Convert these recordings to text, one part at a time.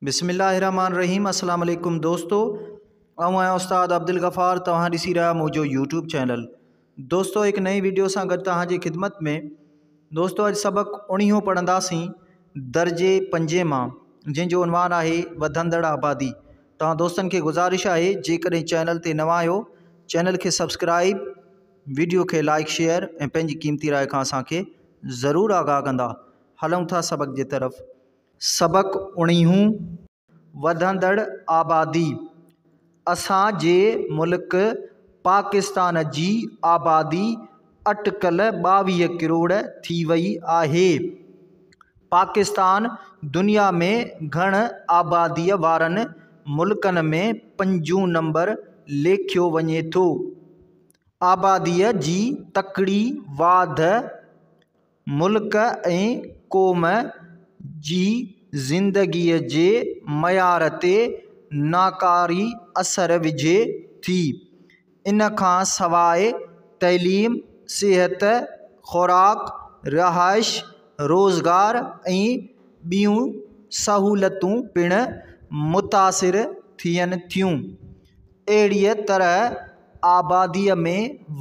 بسم الله الرحمن الرحيم السلام عليڪم دوستو آئون آهيان استاد عبدالغفار توهان ڏسي رهيا منهنجو يوٽيوب چينل دوستو هڪ نئين ويڊيو سان گڏ توهان جي خدمت ۾ دوستو اڄ سبق اڻيهون پڙهنداسين درجي پنجين مان جنهن جو عنوان آهي وڌندڙ آبادي توهان دوستن کي گذارش آهي جيڪڏهن چينل تي نوان آهيو چينل کي سبسڪرائب ويڊيو کي لائڪ شيئر ۽ پنهنجي قيمتي راء کان اسان کي ضرور آگاهه ڪندا هلون ٿا سبق جي طرف سبق اڻيهون، وڌندڙ آبادي اسان جي ملڪ پاڪستان جي آبادي اٽڪل ٻاويهه ڪروڙ ٿي وئي آهي. پاڪستان دنيا ۾ گهڻ آبادي وارن ملڪن ۾ پنجون نمبر ليکيو وڃي ٿو. آبادي جي تڪڙي واڌ ملڪ ۽ قوم جي زندگيء جي معيار تي ناڪاري اثر وجهي ٿي. ان کان سواء تعليم، صحت، خوراڪ، رهائش، روزگار ۽ ٻيون سهولتون پڻ متاثر ٿين ٿيون. اهڙيء طرح آباديء ۾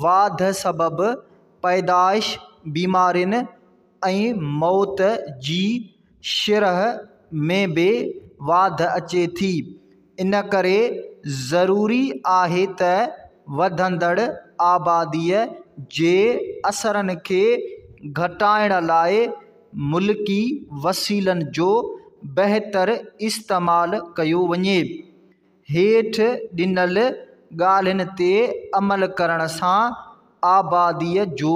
واڌ سبب پيدائش، بيمارين ۽ موت جي شرح ۾ به واڌ اچي ٿي، ان ڪري ضروري آهي ته وڌندڙ آباديء جي اثرن کي گهٽائڻ لاء ملڪي وسيلن جو بهتر استعمال ڪيو وڃي. هيٺ ڏنل ڳالهين تي عمل ڪرڻ سان آباديء جو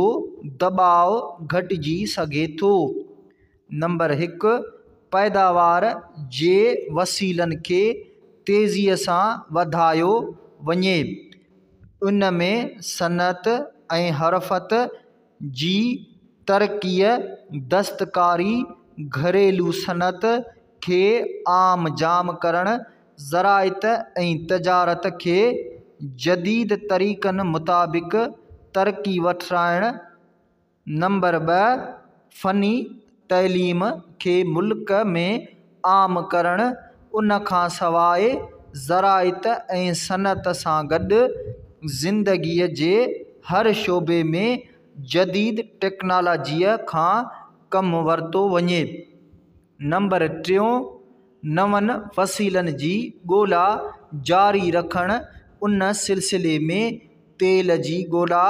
دٻاء گهٽجي سگهي ٿو. نمبر هڪ، پيداوار جي وسيلن کي تيزيء سان وڌايو وڃي. ان ۾ صنعت ۽ حرفت جي ترقيء، دستڪاري، گهريلو صنعت، کي عام جام ڪرڻ، زراعت ۽ تجارت کي جديد طريقن مطابق ترقي وٺرائڻ، نمبر ٻه فني تعليم کي ملڪ ۾ عام ڪرڻ، ان کان سواء زراعت ۽ صنعت سان گڏ زندگي جي هر شعبي ۾ جديد ٽيڪنالاجيء کان ڪم ورتو وڃي. نمبر ٽيون، نون وسيلن جي ڳولا جاري رکڻ، ان سلسلي ۾ تيل جي ڳولا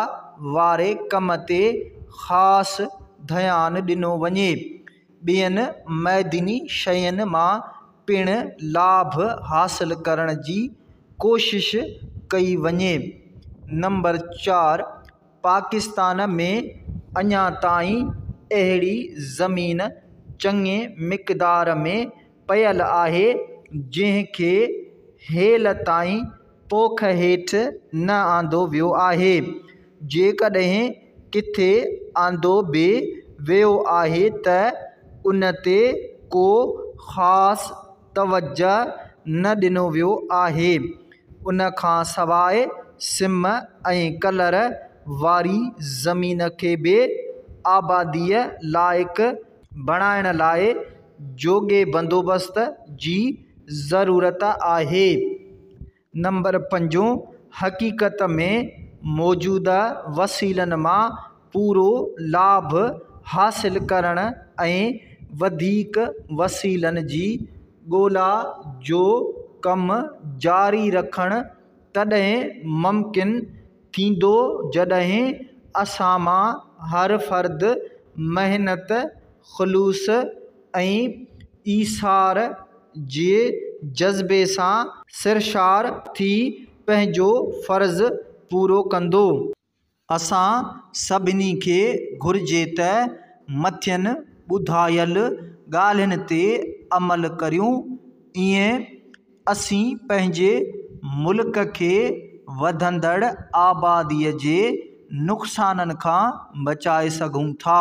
واري ڪم تي خاص ڌيان ڏنو وڃي. ٻين معدني شين مان پڻ لاڀ حاصل ڪرڻ جي ڪوشش ڪئي وڃي. نمبر چار، پاڪستان ۾ اڃا تائين اهڙي زمين چڱي مقدار ۾ پيل آهي جنهن کي هيل تائين پوک هيٺ نه آندو ويو آهي جيڪڏهن ڪٿي آندو به ويو آهي ته ان تي ڪو خاص توجه نه ڏنو ويو آهي. ان کان سواء سم ۽ ڪلر واري زمين کي به آباديء لائق بڻائڻ لاء جوڳي بندوبست جي ضرورت آهي. نمبر پنجون، حقيقت ۾ موجوده وسيلن مان پورو لاڀ حاصل ڪرڻ ۽ وڌيڪ وسيلن جي ڳولا جو ڪم جاري رکڻ تڏهن ممڪن ٿيندو جڏهن اسان مان هر فرد محنت، خلوص ۽ ايثار جي جذبي سان سرشار ٿي پنهنجو فرض پورو ڪندو. اسان سڀني کي گهرجي ته مٿين ٻڌايل ڳالهين تي عمل ڪريون، ايئن اسين پنهنجي ملڪ کي وڌندڙ آبادي جي نقصانن کان بچائي سگهون ٿا.